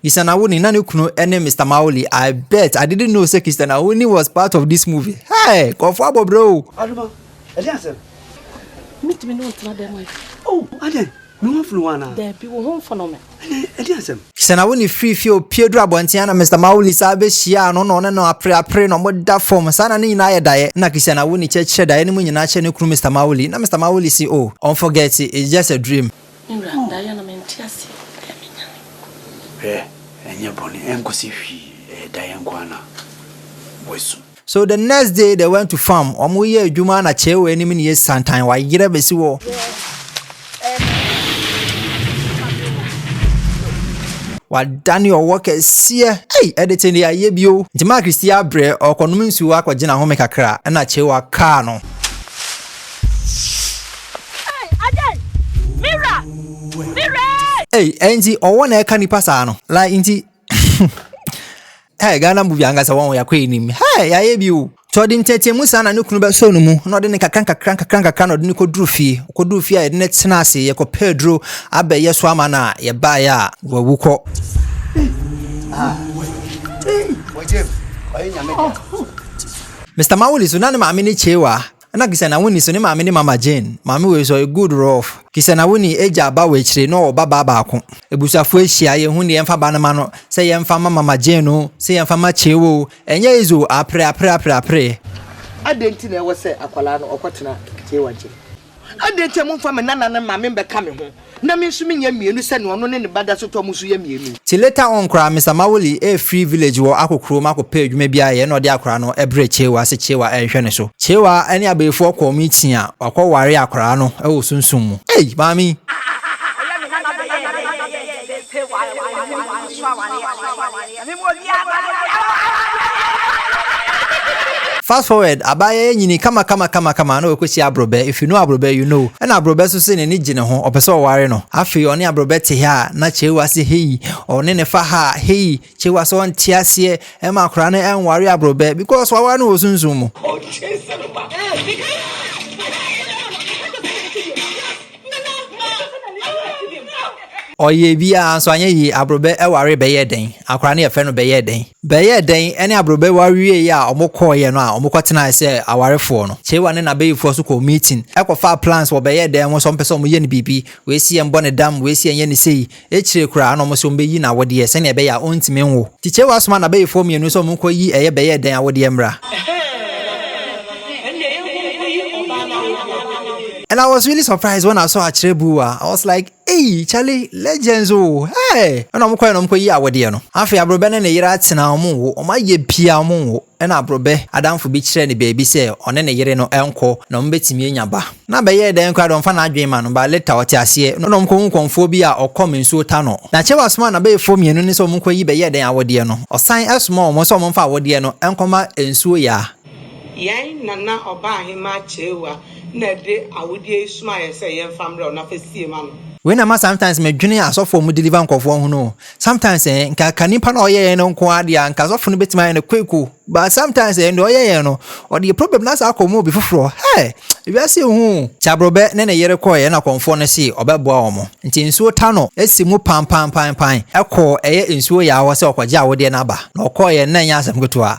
Christian Awuni na ne kunu ne Mister Mauli. I bet I didn't know say Christian Awuni was part of this movie. Hey, kɔfɔ abɔ bro. Adoma, ɛdi asɛm. Mitumi ne wo tena dɛm ɛ. Oh, adɛn? Me ho mfono wo anaa? Daabi, wo ho mfono me. Ɛnɛ, ɛdi asɛm. Christian Awuni firi fie opie duru abɔnten a na Mister Mauli saa bɛhyiaa no na ɔne no apreapre na wɔda fam. Saa na ne nyinaa yɛ daeɛ. Ɛna Christian Awuni kyerɛkyerɛ daeɛ no mu nyinaa kyerɛ ne kunu Mister Mauli. Na Mister Mauli se, oh, ɔnforget it, it's just a dream. Me wura, daeɛ no mente aseɛ o, ɛyɛ me nyame. Hwɛ, ɛnyɛ bɔne, ɛnkɔsi hwee, ɛyɛ daeɛ nko ara na wasu. So the next day they went to farm, wɔn yɛ adwuma na kyɛɛ wɔ anim ne yɛ santan, wayerɛ bɛsi hɔ. Wadane ɔwɔ kɛseɛ, ei, ɛde te deɛ ayɛ bio. Nti Mark resi abrɛ, ɔrekɔnom nsuo akɔgye n'ahome kakra, ɛna kyɛɛ wɔ akaa no. Ei, adɛn? Me wura! Me wura e! Ei, ɛnti ɔwɔ na ɛka nipa saa no? Like nti Hey, Ghana movie ankasa wɔn yɛakɔ anim. Hey, yɛayɛ bi o. Nti ɔde nteateamu saa na ne kunu bɛsɔ no mu na ɔde ne kakra nkakra nkakra nkakra na ɔde ne kɔduru fie. Ɔkɔduru fie a yɛde ne tena ase yɛkɔpɛ aduro abɛyɛ so ama no a yɛbaeɛ a wawu kɔ. Mr. Mawuli so na ne maame ne Chewa Nna Kisana Winnie so ne maame ne Mama Jane. Maame wei so, ɔyɛ good rough. Kisana Winnie egya aba wɔ ekyire na ɔwɔ ba baa baako. Ebusuafo ehyia, yehu deɛ yɛmfa ba no ma no, sɛ yɛmfa ma Mama Jane oo, sɛ yɛmfa ma Chew oo, ɛnyɛ easy oo, apre, apre, apre, apre. Adɛn nti na ɛwɔ sɛ akwadaa no ɔkɔtena Chew nkyɛn? Adɛn nti a momfa me nana no mma me mmɛka me ho Na me nso menya mmienu sɛnea ɔno ne ne ba da so tɔ mo so yɛ mmienu. Te later on koraa Mister Mawuli ɛɛfiri village wɔ akɔ kurom akɔ pɛ adwuma bi ayɛ ɛna ɔde akwaraa no ɛbrɛ Chewa sɛ Chewa ɛnhwɛ ne so. Chewa ɛne abayifoɔ kɔɔ meeting a wakɔ ware akwaraa no ɛwɔ sunsum mu. Ei! Maame yi! Fast forward, abaayaa yi nyinii kamakamakamakama na wakosi Abrobɛ, if you know Abrobɛ you know, ɛna Abrobɛ so se n'ani gye ne ho, ɔpɛ sɛ ɔware no. Afei ɔne Abrobɛ te ha a, na Chewa se hei, ɔne ne fa ha a, hei, Chewa se ɔnte aseɛ, ɛma akwadaa no ɛnware Abrobɛ, because waware no wɔ sunsum mu. Ɔyɛɛ biaa nso anyɛ yie, Aborɔbɛ waree bɛyɛɛ dɛn? Akwadaa no yɛfrɛ no Bɛyɛɛ dɛn? Bɛyɛɛ dɛn ne Aborɔbɛ wareeɛ a ɔmo kɔɔeɛ no a ɔmo kɔtenaeɛ sɛ awarefoɔ no. Kyewa ne n'abayifoɔ nso kɔɔ meeting kɔfaa plans wɔ Bɛyɛɛ dɛn ho sɛ ɔmo pɛ sɛ ɔmo yɛ no biribi, wei se yɛn bɔ no dam, wei se yɛn yɛ no sei, Ekyir koraa na ɔmo se ɔmbeyi n'awodeɛ sɛnea ɛbɛyɛ a ɔntumi nwo. Tikyaw asoma n'abayifoɔ mmienu sɛ ɔmo nkɔ yi ɛyɛ bɛyɛɛ dɛn awodeɛ mmra. Ɛhɛɛɛɛɛɛ ɛnneɛ yɛnkɔ nkɔyi ɔbaa no awodeɛ. And I was really surprised when I saw Akyerɛbua, I was like, ei, Charlie, legends oo, hey! Ɛna ɔmo kɔɛ na ɔmo kɔyii awodeɛ no. Afei Aborɔbɛ ne ne yere atena, ɔmo nwo, ɔmo ayɛ pii a ɔmo nwo. Ɛnna aborɔbɛ adamfo bi kyerɛɛ no baabi sɛ ɔne ne yere no nkɔ na wɔbɛtumi anya ba. Ná bɛyɛɛ dɛn koraa de ɔmfa n'adwene mma no, but later ɔte aseɛ na ɔne wɔn kɔhu kɔmfoɔ bi a ɔkɔm nsuo ta no. Na Chewa somaa n'abayifoɔ mmienu no sɛ wɔnkɔyi bɛyɛɛ dɛn awodeɛ no. Ɔsan somaa wɔn sɛ wɔmfa awodeɛ no nkɔma nsuo yaa. Yɛn nana Ɔbaahemaa Chewa na ɛde awodeɛ yi somaa yɛn sɛ yɛmfa mmrɛ wo na fa sie ma no. Wei na ɛma sometimes medwene asɔfoɔ a wɔdeliver nkurɔfoɔ ho no o. Sometimes eh, nka ka nipa na ɔyɛ yɛn no nko ara deɛ nka sɔfo no betumi ayɛ no quick o. But sometimes eh, deɛ ɔyɛ yɛn no, ɔde yɛ problem na saa akɔ mu obi foforɔ. Hey, wiase hu. Kyabrobɛ ne ne yere kɔɛ ɛna kɔmfoɔ no see ɔbɛboa wɔn. Nti nsuo ta no si mu panpanpanpan. Ɛkɔɔ ɛyɛ nsuo yaa hɔ sɛ ɔkɔgye awodeɛ no aba. Na ɔkɔɔyɛ na ɛnyɛ asɛm ketewa.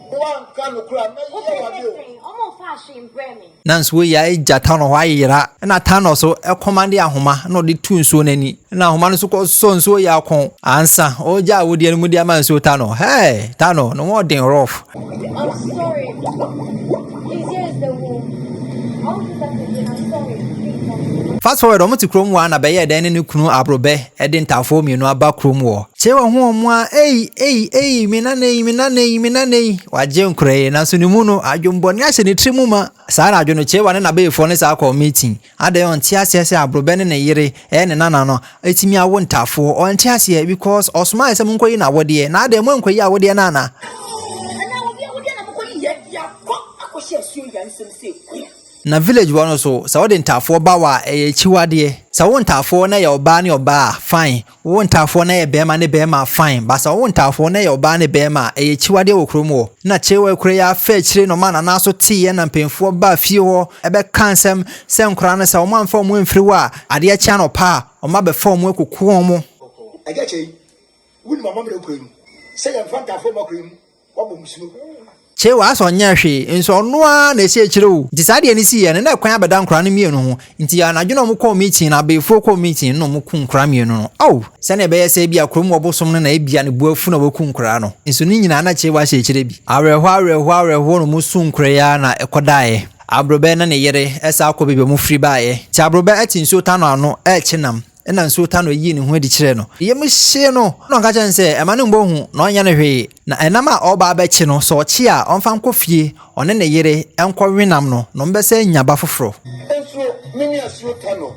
Woanka nokorɛ a, mɛyɛ wo adeɛ o. Nanso wei yɛ agya Thanos hɔ ayera. Ɛna Thanos kɔmande ahoma na ɔde tu nsuo no ani. Ɛna ahoma no nso kɔ sɔ nsuo yɛ akɔn. Ansa ɔregya awodeɛ no mu de ama nsuo Thanos. Hɛɛ! Thanos ne ho ɔden rough. Fast forward, wɔn te kurom hɔ a na bɛyɛɛ dɛn ne ne kunu Aborɔbɛ. Ɛde ntaafoɔ mmienu aba kurom wɔ. Kye wɔn ho wɔn a ei, ei, ei, me nana ei, me nana ei, me nana ei. Wagye nkora ei, nanso ne mu no, adwemmɔne ahyɛ ne tiri mu ma. Saa anadwo no, Kyewa ne n'abayifoɔ no saa kɔɔ meeting. Adɛn, ɔnte aseɛ sɛ Aborɔbɛ ne ne yere, ɛyɛ ne nana no, atumi awo ntaafoɔ. Ɔnte aseɛ, because ɔsomaeɛ sɛ monkɔyi n'awodeɛ. Na adɛn, moankɔyi awodeɛ no anaa? Anaa obi awodeɛ na mokɔyiiɛ de akɔ akɔhyɛ asuo yi ara nsam sei? Na village hɔ no so sɛ wode ntaafoɔ ba hɔ a ɛyɛ akyiwadeɛ. Sɛ wo ntaafoɔ no yɛ ɔbaa ne ɔbaa a fine, wo ntaafoɔ no yɛ barima ne barima a fine but sɛ wo ntaafoɔ no yɛ ɔbaa ne barima a ɛyɛ akyiwadeɛ wɔ kurom hɔ. Na Kyerewa kura yi afa akyire na wɔn a Nana so teeɛ na mpanyinfoɔ baa fie hɔ bɛkaa nsɛm sɛ nkwadaa no sɛ wɔn amfa wɔn amfiri hɔ a adeɛ kye anɔpa a wɔn abɛfa wɔn akuku wɔn. Agya Kyei, wonim amammerɛ kuro yi mu sɛ yɛmfa ntaafoɔ mma kuro yi mu Kyeo asɛ ɔnyɛɛ hwee nso ɔno ara na ɛsi akyire o nti saa deɛ no siiɛ no na ɛkwan abɛda nkora no mmienu ho nti anadwo na ɔmo kɔɔ meeting no abeefoɔ kɔɔ meeting no na ɔmo kum nkora mmienu no ao sɛnea ɛbɛyɛ sɛ ebia kurom hɔ bosom no na ebia ne bo afu na waku nkora no nso ne nyinaa na Kyeo ahyɛ akyire bi awerɛhoɔ awerɛhoɔ awerɛhoɔ na ɔmo suu nkora yi ara na ɛkɔdaeɛ Aborɔbɛ ne ne yere ɛsan kɔ baabi a ɔmo firi baeɛ nti Aborɔbɛ ɛte nsuo tano ano ɛrekye nam Ɛnna nsuo taa no yii ne ho adi kyerɛɛ no. Ne yam hyee no, na ɔka kyerɛɛ no sɛ, Mma no mmɔ hu, na ɔnyɛ no hwee. Na ɛnam a ɔreba abɛkye no, sɛ ɔkye a, ɔmfa nkɔ fie, ɔne ne yere nkɔwe nam no, na wɔbɛsan anya ba foforɔ. Nso me ne asuo ta no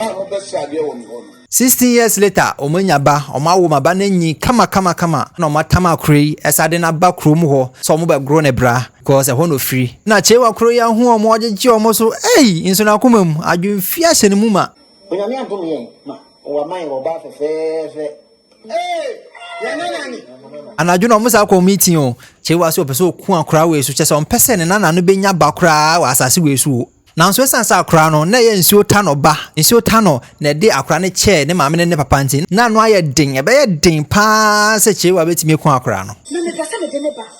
a mobɛsra adeɛ wɔ me hɔ no. Sixteen years later, wɔanya ba, wɔawo ma ba no anyin kamakamakama, ɛnna wɔatam akora yi, ɛsɛ adeɛ no aba kurom hɔ sɛ wɔbɛgoro no bra, because ɛhɔ na ɔfiri. Na Kyewa kuro yi ahu wɔn, wɔgyegye wɔn so, ei! Nso n'akoma mu, adwemfie ahyɛ ne mu ma. Onyame adom yɛn ma wama yɛn ɔbaa fɛfɛɛfɛ ee yɛn nana ni. Anadwo na ɔmo saa kɔɔ meeting o. Kyɛ wa sɛ ɔpɛ sɛ ɔku akora wei so kyɛ sɛ ɔmpɛ sɛ ne nana no bɛnya ba koraa wɔ asase wei so o. Nanso ɛsiane sɛ akora no na ɛyɛ nsuo ta no ba, nsuo ta no na ɛde akora no kyɛɛ ne maame ne ne papa nti, na ano ayɛ den, ɛbɛyɛ den paa sɛ Kyei-Wa bɛtumi aku akora no. Na mepɛ sɛ mede ne ba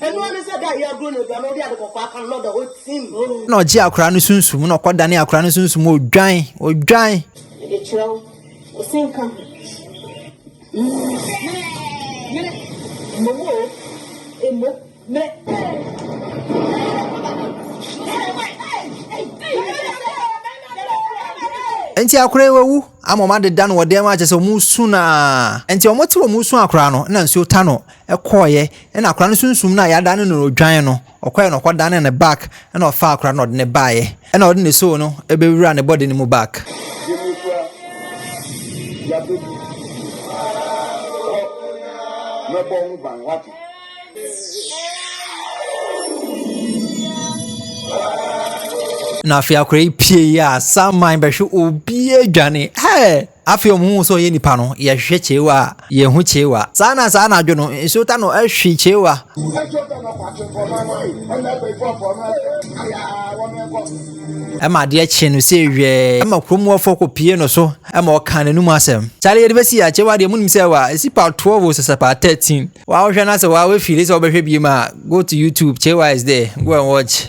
Ɛno ne sɛ da a yɛagoro no aduan no, wode ade kɔkɔɔ aka no na ɔda hɔ tim. Na ɔgye akwadaa no sunsum, na ɔkɔdane akwadaa no sunsum, odwan, odwan. Mede kyerɛ wo, wo se nka ho. Mmerɛ, mmerɛ, mmom o, mmom, mmerɛ. Nti akora yi wawu ama wɔn adeda no wɔ dan mu akyɛ sɛ wɔn su no a nti wɔn te wɔn su akora no na nsuo ta no ɛkɔeɛ ɛna akwadaa no sunsum no a yɛadane no odwan no ɔkɔeɛ na ɔkɔdanee ne back ɛna ɔfaa akwadaa no na ɔde ne baeɛ ɛna ɔde ne soul no ɛbɛwura ne body no mu back. Na afei akwadaa yi pieeɛ a Saman bɛhwe obiara dwane ɛɛ. Afei wɔn hu sɛ ɔyɛ nipa no, yɛhwehwɛ kyeewa a, yɛnhu kyeewa. Saa na saa anadwo no, nsuo ta no hwe kyeewa. Ɛma adeɛ kye no sɛ hwɛɛ. Ɛma kurom wɔfoɔ kɔ pie no so, ɛma ɔkaa n'anum asɛm. Kyale yɛde bɛsi a, kyeewa deɛ monim sɛ wa, ɛsi part 12 o sɛsɛ part 13. Wa wohwɛ na sɛ wa wafili sɛ wobɛhwɛ biem a, go to YouTube, kyeewa is there, go and watch.